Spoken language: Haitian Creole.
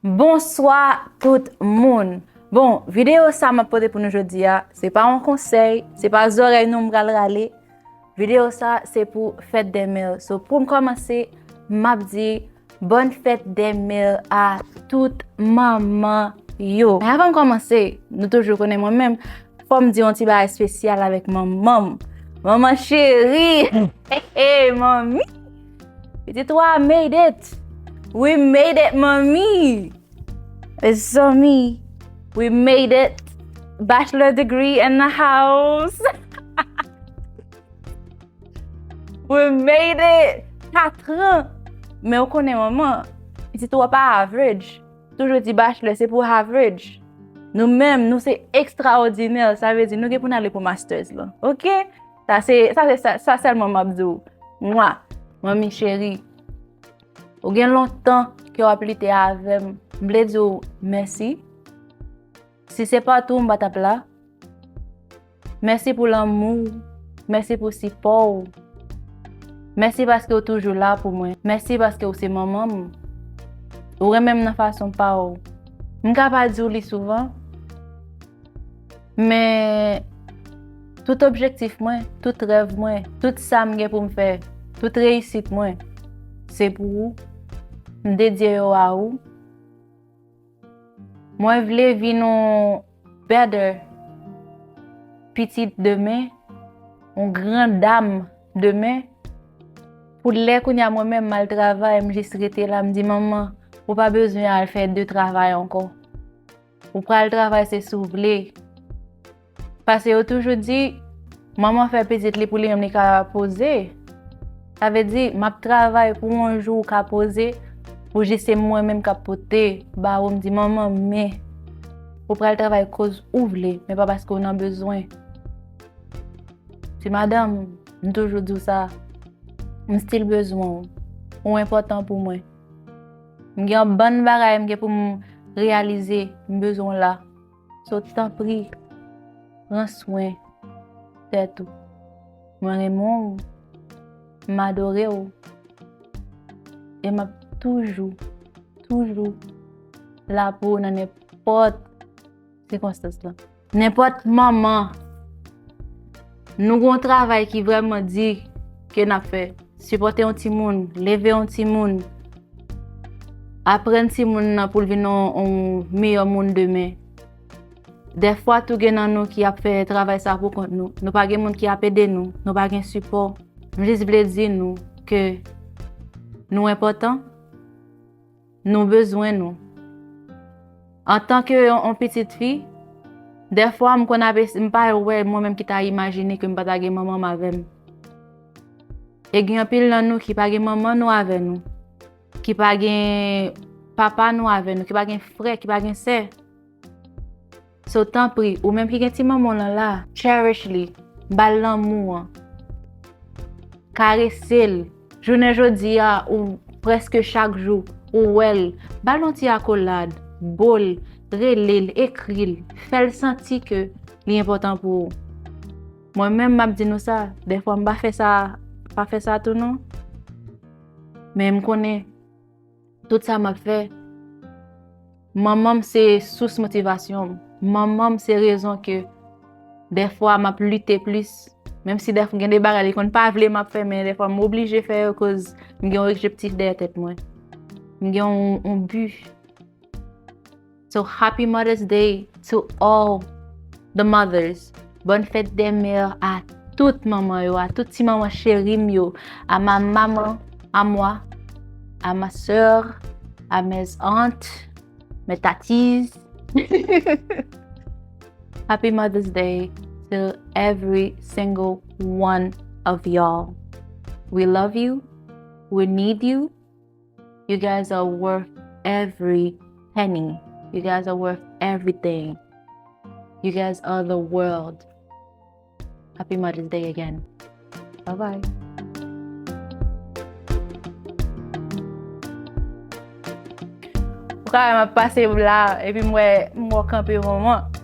Bonswa tout moun! Bon, videyo sa map pote pou nou jodi a, se pa yon konsèy, se pa zòrèy nou m pral rale, videyo sa se pou fèt dè mè, so poum kòmanse map di bòn fèt dè mè a tout manman yo. Men avanm kòmanse, nou toujou konnen mwen menm, fòm di yon ti bagay spesyal avèk manmanm, manman cheri, he he manmi! Pitit wa made it! We made it manmi! Mezanmi, we made it! Bachelor degree in the house! We made it! 4 ans! Men ou konnen manman, pitit ou a pa average. Toujou di bachelor se pou average. Nou menm, nou se extraordinaire, sa vle di nou gen pou n ale pou masters lan. Ok! Sa se, sa se, sa sèlman map di ou. Mwa, manmi cheri, ou gen lontan ke wap lite avèm, m vle di ou mèsi. Si se pa tou m pa tap la. Mèsi pou lanmou ou, mèsi pou sipò ou. Mèsi paske ou toujou la pou mwen. Mèsi paske ou se manman m. Ou renmen m nan fason pa ou. M ka pa di ou li souvan. Men, tout objektif mwen, tout rèv mwen, tout sa m gen pou m fè, tout reyisit mwen, se pou ou. M dedye yo a ou. Mwen vle vin yon better pitit demen, yon gran dam demen. Pou lè kounye a mwen menm m al travay, m jis rete la, m di manman, ou pa bezwen al fè de travay ankò. Ou pral travay se si w vle. Pase yo toujou di, manman fè pitit li pou li menm li ka poze. Sa vle di, m ap travay pou yon jou ou ka poze, pou jis se mwen menm k ap pote ba ou. M di, manman men, ou pral travay koz ou vle, men pa paske ou nan bezwen. Ti madanm, m toujou di w sa, m stil bezwen w. Ou enpòtan pou mwen. M gen yon bann bagay m gen pou m reyalize, m bezwen w la. So tanpri, pran swen tèt ou. Mwen renmen w, m adore w, e m ap toujou, toujou la pou w nan nenpòt. Se konstans lan. Nenpòt manman, nou gon travay ki vreman di ke nap fè. Sipòte yon ti moun, leve yon ti moun, aprenn ti moun nan pou l vin yon miyò moun demen. Dèfwa tou gen nan nou ki ap fè travay sa pou kont nou. Nou pa gen moun ki ap ede nou, nou pa gen sipò. M jis vle di nou ke nou enpòtan. Nou bezwen nou. Antan ke yon pitit fi, dèfwa m konn ave, m pa wè mwen menm ki ta imajine ke m pa ta gen manman m avè m. E gen anpil nan nou ki pa gen manman nou avè nou, ki pa gen papa nou avè nou, ki pa gen frè, ki pa gen sè. So tanpri, ou menm ki gen ti manman w lan la, cherish li, ba l lanmou an, karese l. Jounen jodi a ou prèske chak jou ou wè l, ba l yon ti akolad, bo l, rele l, ekri l, fè l santi ke li enpòtan pou ou. Mwen menm m ap di nou sa, dèfwa m pa fè sa, pa fè sa tou non. Men m konnen. Tout sa map fè, manmanm se sous motivasyon, manmanm se rezon ke defwa map lite plis, menm si defwa gen de bagay li konn pa vle map fè, men defwa m oblije fè yo koz m gen yon objektif dèyè tèt mwen. M gen yon bi. So happy mother's day to all the mothers Bonne fête des mères a tout manman yo, a tout ti manman cheri m yo A ma maman a moi, a ma soeur, a mes aunts, mes tatis Happy mother's day to every single one of y'all We love you, we need you. You guys are worth every penny. You guys are worth everything. You guys are the world. Happy Mother's Day again. Bye bye. Kwa mwen ap pase la, epi mwen mwen kanpe mwen mwen.